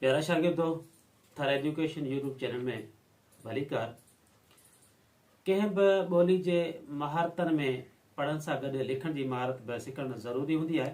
پيارا شاگردو Thar education YouTube channel ۾ ڀليڪار ڪنهن به ٻولي جي مهارتن ۾ پڙهڻ سان گڏ لکڻ جي مهارت به سکڻ ضروري هوندي آهي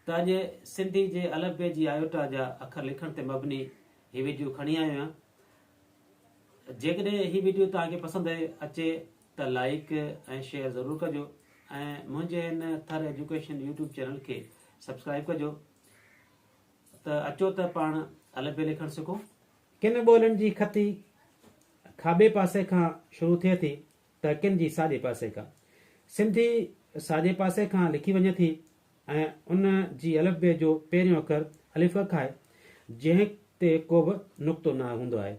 ته اڄ سنڌي جي الف بي جي آيوٽا جا اکر لکڻ تي مبني هي ويڊيو کڻي آيو آهيان جيڪڏهن هي ويڊيو توهان کي پسند اچي ته لائڪ ۽ شيئر ضرور ڪجو ۽ منهنجي هن ٿر ايجوڪيشن يوٽيوب چينل کي سبسڪرائب ڪجو ته اچو ته پاڻ الف بي لکڻ سکو. ڪن ٻولين جي خطي کاٻي پاسي کان شروع ٿئي ٿي ته ڪن جي ساڄي پاسي کان. سنڌي ساڄي پاسي کان لکي وڃي ٿي ۽ ان جي الف بي جو پهريون اکر الف اک آهي، جنهن تي ڪوبه نقطو نه هوندو آهي.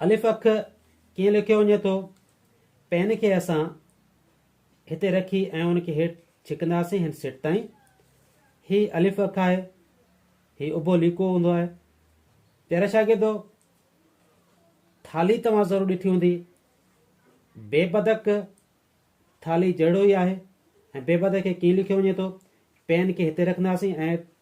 الف اک ڪيئن لکيو وڃي ٿو؟ پين کي اسان هتي رکي ۽ ان کي هيٺ ڇڪنداسين هن سٽ تائين. هي الف اک آهي. هي اڀو ليڪو هوندو آهي. پيارا شاگردو! ٿالهي توهان ضرور ڏٺي هوندي. بي بدڪ ٿالهي جهڙو ئي آهي ۽ بي بدڪ کي ڪيئن لکيو وڃي ٿو؟ پين کي هتي رکنداسين ۽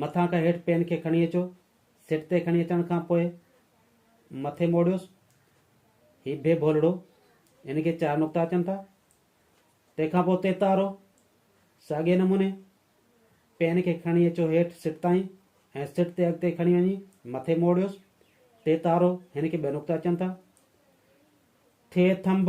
مٿان کان هيٺ پين کي کڻي اچو. سٽ تي کڻي اچڻ کان پوء مٿي موڙيوس. هي بي ڀولڙو. هن کي چار نقطا اچن ٿا. تنهن کان پوء تيتارو. ساڳئي نموني پين کي کڻي اچو هيٺ سٽ تائين ۽ سٽ تي اڳتي کڻي وڃي مٿي موڙيوس. تيتارو. هن کي ٻه نقطا اچن ٿا. ٿي ٿنڀ.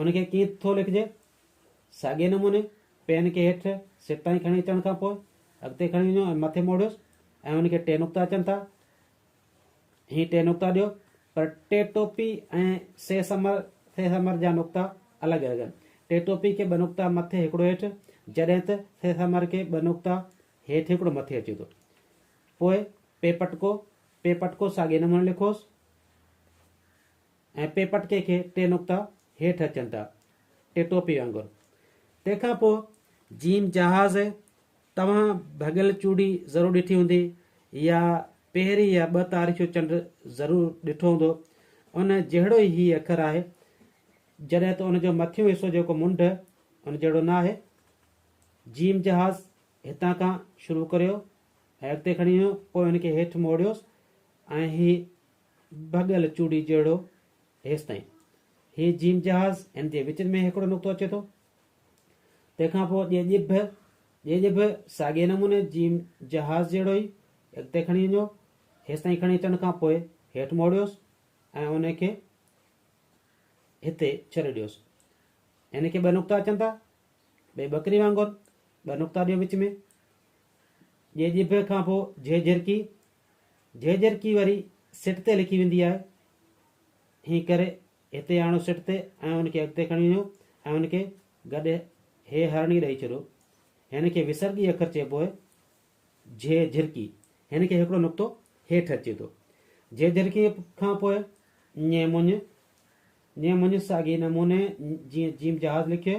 ان کي ڪيئن ٿو لکجي؟ ساڳئي نموني پين کي هيٺ سر تائين کڻي اچڻ کان پوء اڳتي کڻي وڃو ۽ مٿي موڙيوس ۽ ان کي ٽي نقطا اچن ٿا هي ٽي نقطا ڏيو پر ٽي ٽوپي ۽ سي سمر ٿي سمر جا نقطا الڳ هجن. ٽي ٽوپي کي ٻه نقطا مٿي هڪڙو هيٺ جڏهن ته ٿي سمر کي ٻه نقطا هيٺ هڪڙو مٿي اچي ٿو. پوء پي پٽڪو پي پٽڪو ساڳئي نموني لکوس. ۽ پي پٽڪي کي ٽي نقطا هيٺ اچن ٿا، ٽي ٽوپي وانگر. تنهن کان پوء جيم جهاز توهان ڀڳل چوڙي ضرور ڏٺي هوندي يا پهرين يا ٻه تاريخيون چنڊ ضرور ڏٺو هوندو. ان جهڙو ئي هي اکر آهي، جڏهن ته ان جو مٿيون حصو جيڪو منڍ ان جهڙو نه آهي. جيم جهاز هتان کان شروع ڪريو ۽ اڳتي کڻي ويو، پوء ان کي هيٺ موڙيوس ۽ هي ڀڳل چوڙي جهڙو هيستائين هي جيم جهاز هن جي وچ ۾ هڪڙو نقطو اچي ٿو تنهن کان پوء ڄي ڄي به ڄي ڄي به ساڳئي نموني جيم جهاز جهڙو ئي اڳتي کڻي وڃو هيستائين کڻي اچڻ کان پوء هيٺ موڙيوس ۽ ان کي هتي ڇڏي ڏيوس ان کي ٻه نقطا اچن ٿا ٻي ٻڪري وانگر ٻه نقطا ڏيو وچ ۾ ڄي ڄي به کان پوء جهي جهرڪي جهيجهرڪي وري سٽ تي لکي ويندي آهي. ائين ڪري هتي آڻو سٽ تي ۽ ان کي اڳتي کڻي وڃو ۽ ان کي گڏ هي هرڻي ڏئي ڇڏيو. هن کي وسرڳي اکر چئبو آهي، جهيجهرڪي. هن کي هڪڙو نقطو هيٺ اچي ٿو. جهيجهرڪي کان پوء ڃي مڃ، ڃي مڃ ساڳي نموني جيئن جيم جهاز لکيو.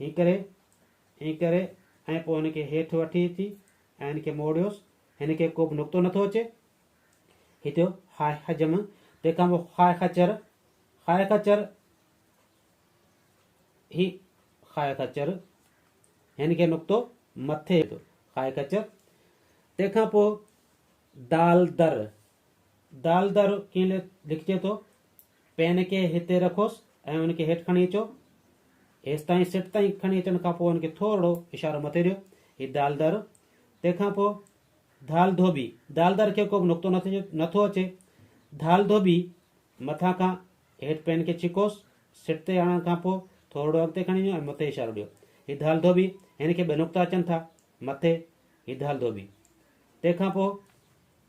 هيء ڪري، ائين ڪري ۽ پوء هن کي هيٺ وٺي اچي ۽ هن کي موڙيوس. هن کي ڪوبه نڪتو نٿو اچي. هي ٿيو هاء حجم، تنهن کان پوء هاء خچر، هاء خچر، هي هاء خچر، هن کي نڪتو مٿي اچي ٿو، هاء خچر، تنهن کان پوء دال در، دالدر ڪيئن لکجي ٿو؟ پين کي هتي رکوس ۽ ان کي هيٺ کڻي اچو. هيستائين سٽ تائين کڻي اچڻ کان پوء ان کي ٿورڙو اشارو مٿي ڏيو. هي دالدر. تنهن کان پوء ڌال ڌوٻي. دالدر کي ڪوبه نقطو نٿو اچي. ڌال ڌوٻي. مٿان کان هيٺ پين کي ڇڪوس. سٽ تي آڻڻ کان پوء ٿورڙو اڳتي کڻي وڃو ۽ مٿي اشارو ڏيو. هي ڌال ڌوٻي. هن کي ٻه نقطا اچن ٿا. مٿي. هي ڌال ڌوٻي. تنهن کان پوء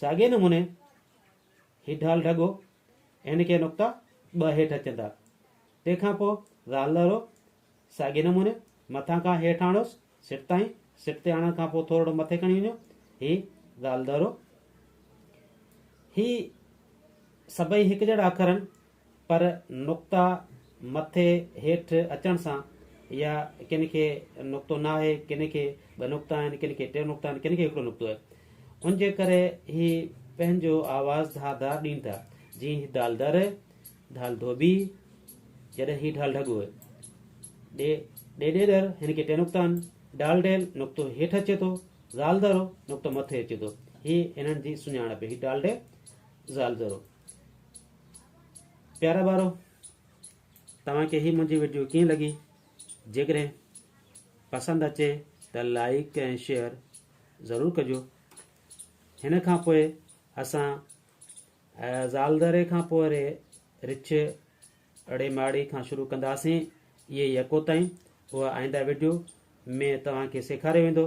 ساڳئي نموني هي ڍال ڍڳو اين ڪي نقطا ٻه هيٺ اچن ٿا. تنهن کان پوء ذال لهرو ساڳئي نموني مٿان کان هيٺ آڻيوس سٽ تائين، سٽ تي آڻڻ کان پوء ٿورڙو مٿي کڻي وڃو هي ذال لهرو. هي سڀئي هڪجهڙا اکر آهن پر نقطا مٿي هيٺ اچڻ سان يا ڪن کي نقطو نه آهي، ڪن کي ٻه نقطا آهن، ڪن کي ٽي نقطا آهن، ڪن کي هڪڙو نقطو آهي. ان جي ڪري هي پنهنجو آواز ڌار ڌار ڏين ٿا، جيئن هي ڍال در، ڍال ڌوٻي، جڏهن هي ڍال ڍڳو آهي. ڏي ڏي ڏيڏر، هن کي ٽي نقطا آهن، ڊال ڊيل نقطو هيٺ اچي ٿو، زال ذرو نقطو مٿي اچي ٿو. هي هنن جي سڃاڻپ هي ڊال ڊي، زال ذرو. پيارا ٻارو توهان کي هي منهنجي ويڊيو ڪيئن لڳي جيڪڏهن پسند اچي ته لائڪ ۽ شيئر ضرور ڪجو هن کان پوء اسان زالدري کان پوء ري رڇ اڙي ماڙي کان شروع ڪنداسين اهي يڪو تائين اها آئنده ويڊيو ۾ توهان کي سيکاريو ويندو